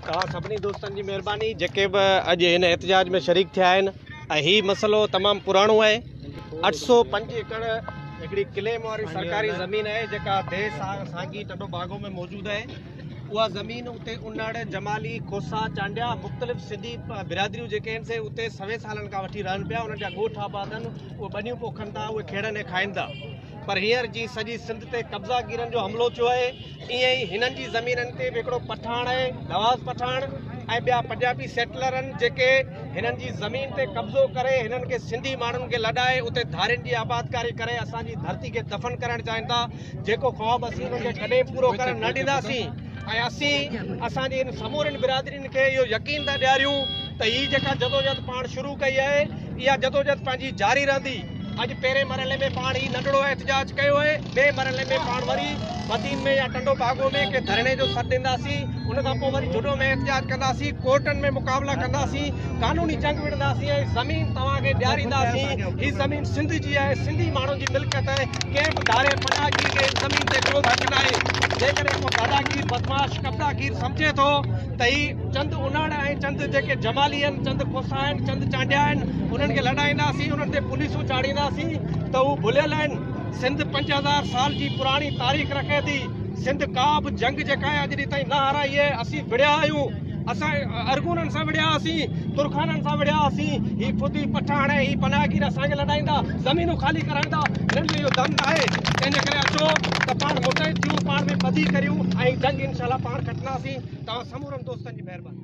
توهان سڀني دوستن جي مهرباني جيڪي به اڄ هن احتجاج ۾ شريڪ ٿيا آهن ۽ هي مسئلو تمام پراڻو آهي اٺ سو پنج ايڪڙ هڪڙي ڪليم واري سرڪاري زمين آهي جيڪا دي سانگي ٽنڊو باگو ۾ موجود آهي اها زمين اتي انڙ جمالي کوسا چانڊيا مختلف سنڌي برادريون جيڪي آهن سي اتي سوين سالن کان وٺي رهن پيا انهن جا ڳوٺ آباد آهن اهي ٻنيون پوکن ٿا اهي کيڙن ۽ کائن ٿا پر هينئر جيئن سڄي سنڌ تي قبضا گيرن جو حملو ٿيو آهي ايئن ئي هنن جي زمينن تي به هڪڙو پٺاڻ آهي نواز پٺاڻ ۽ ٻيا پنجابي سيٽلر آهن جيڪي هنن جي زمين تي قبضو ڪري هنن کي سنڌي ماڻهن کي لڏائي اتي ڌارين جي آبادڪاري ڪري اسان جي ڌرتي کي دفن ڪرڻ چاهين ٿا جيڪو خواب اسين انهن کي ڪڏهن پورو ڪرڻ نه ڏينداسين ۽ اسين اسان جي ان سمورين برادرين کي اهو يقين ٿا ڏياريون ته هي جيڪا جدوجهد پاڻ شروع ڪئي آهي اها جدوجهد پنهنجي جاري رهندي اڄ پهرين مرحلي ۾ پاڻ هي ننڍڙو احتجاج ڪيو آهي ٻئي مرحلي ۾ پاڻ وري مدين ۾ يا ٽنڊو باگو ۾ ڪنهن ڌرڻي جو سڏ ڏينداسين ان کان پوء وري جھڏو ۾ احتجاج ڪنداسين ڪورٽن ۾ مقابلا ڪنداسين قانوني جنگ وڙهنداسين ۽ زمين توهان کي ڏيارينداسين، هي زمين سنڌ جي آهي، سنڌي ماڻهن جي ملڪيت آهي، ڪنهن به ڌاري پناهگير کي هن زمين تي ڪو به حق ناهي، جيڪڏهن ڪو داداگير، بدمعاش، قبضاگير سمجهي ٿو ته هي چند انڙ ۽ چند جيڪي جمالي آهن، چند کوسا آهن، چند چانڊيا آهن، انهن کي لڏائينداسين، انهن تي پوليسون چاڙهينداسين ته هو ڀليل آهن، سنڌ پنج هزار سال جي پراڻي تاريخ رکي ٿي، سنڌ ڪا به جنگ جيڪا آهي اڄ ڏينهن تائين نه هارائي آهي، اسين وڙهيا آهيون. اسان ارغونن سان وڙهيا هئاسين، ترخانن سان وڙهيا هئاسين، هي فدي، پٺاڻ ۽ هي پناهگير اسان کي لڏائيندا، زمينون خالي ڪرائيندا، هنن ۾ اهو دم ناهي، تنهن جي ڪري اچو ته پاڻ متحد ٿيون، پاڻ ۾ ڦڌي ڪريون ۽ جنگ انشاء الله پاڻ کٽنداسين، توهان سمورن دوستن جي مهرباني.